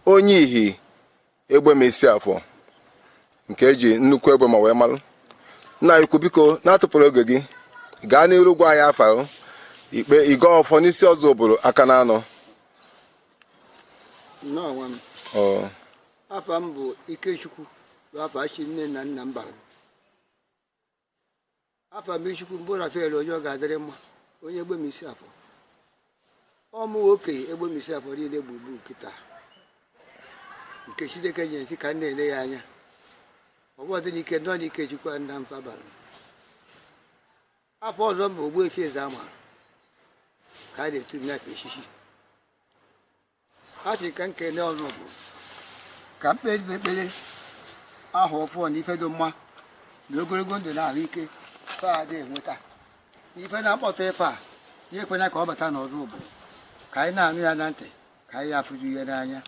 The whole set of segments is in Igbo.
onye ihi egbema isi afọ nke eji nnukwu egbema wee malụ nna anyị ukwu biko na-atufurọ oge gị gaa n'iru gwa anyị afa o. i kpee ị gọọ ọfọ n'isi ọzụbụlụ aka na anọ nnọọ nwa m Ọ, afa m bụ ikechukwu bụ afa chi nne na nna m bara m afa mmiri chukwu m bụ rafael onye ọ ga-adịrị mma onye egbema isi afọ ọ mụ okenye egbema isi afọ niile gburugburu kịta nke chineke nyere sị ka m na-ele ya anya ọ bụ ọdị n'ike nọ n'ikechukwu nna m fa bara afa ọzọ m bụ ogbuefi ezeama ka a na-etu m n'afa echichi a sị ka m kene ọzụbụlụ ka m kpeere ekpere ahọ ọfụụ na ife dị mma na ogologo ndụ na ahụ ike fa adị enweta ife na-akpọta ife a ya ekwena ka ọ bata n'ọzụbụlụ ka anyị na-anụ ya na ntị ka anyị afụzi ya n'anya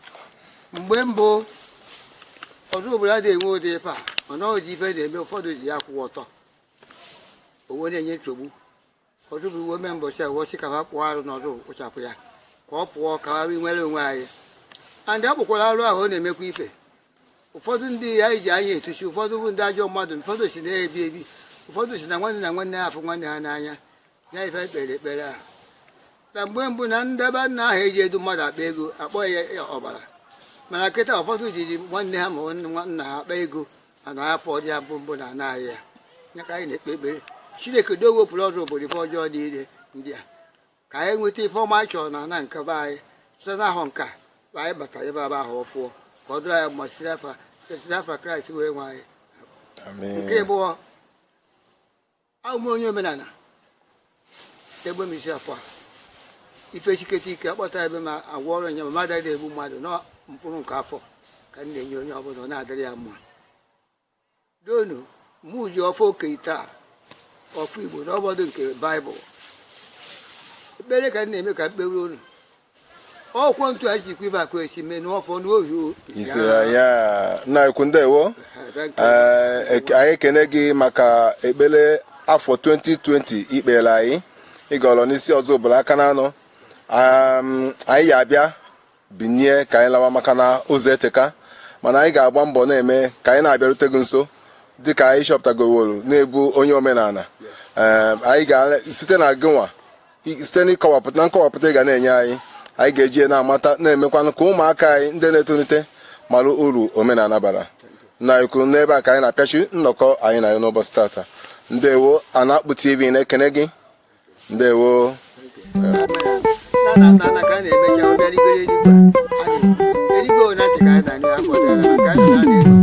mgbe mbụ ọzụbụlụ adịghị enwe ụdị ife a ọ nweezi ife na-eme ụfọdụ ji ya kwụwa ọtọ wee na-enye nsogbu ọzụbụlụ wee mee mbọchị a wee sị ka a kpụọ arụ n'ọzọ kpochapụ ya ka ọ pụọ ka anyị nwere onwe anyị andị a kpụkwara arụ ahụ ọ na-emekwa ife ụfọdụ ndị ya ji anya etuchi ụfọdụ bụ ndị ajọ mmadụ ụfọdụ si na-ebi ebi ụfọdụ si na nwanne na nwanne ya afụ nwanne ha n'anya ya ife kpere ekpere ahụ na mgbe mbụ na ndị be nna ahụ eji edu mmadụ akpa ego akpọ ya ọbara mana kịta ụfọdụ jiri nwanne ha ma nna ha akpa ego ana afụdị ya mbụ mbụ na ana anyị ya ya ka anyị na-ekpe ekpere chineke do wepụrụ ọzụbụlụ ife ọjọọ niile ndị a ka anyị nweta ife ọma anyị chọrọ na ana nke be anyị site n'ahọ nka ma anyị batara ebe aba ahọ ọfụụ ka ọ dịrị anyị mma site n'afa site n'afa kraịst onye nwe anyị nke abụọ abụ m onye omenala egbema isi afọ a ife siketa ike akpọta ebe ma agwa ọrụ nya ma mmadụ adịghị egbu mmadụ na mkpụrụ nke afọ ka m na-enye onye ọbụla ọ na-adịrị ya mma donu mụ ji ọfọ okenye taa ọfọ igbo n'ọbọdụ nke baịbụl ekpere ka m na-eme ka m kpeere unu ọkwọ ntu a ji kwiva ka esi mee n'ọfọ n'ohi ise ya nna anyị ukwu ndewo ee anyị ekene gị maka ekpere afọ 2020 i kpeere anyị ị gọọrọ n'isi ọzụbụlụ aka na anọ anyị ya abịa binie ka anyị lawa maka na ụzọ eteka mana anyị ga-agba mbọ na-eme ka anyị na-abịarute gị nso dịka anyị chọpụtagoworo na ị bụ onye omenala anyị ga-esite na gịnwa site n'ịkọwapụta na nkọwapụta ị ga na-enye anyị anyị ga-eji ya na-amata na-emekwanụ ka ụmụaka anyị ndị na-etolite mara uru omenala bara na ikwu n'ebe a ka anyị na-apịachi nnọkọ anyị na ya n'ụbọchị tata ndewo anakpu tv na-ekene gị ndewo na na na ka a na-emecha ọ bịa rigoro eluigwe a na-ekwu eluigwe ole ntị ka anyị na-anụ ya afọ dara maka anyị na-anụ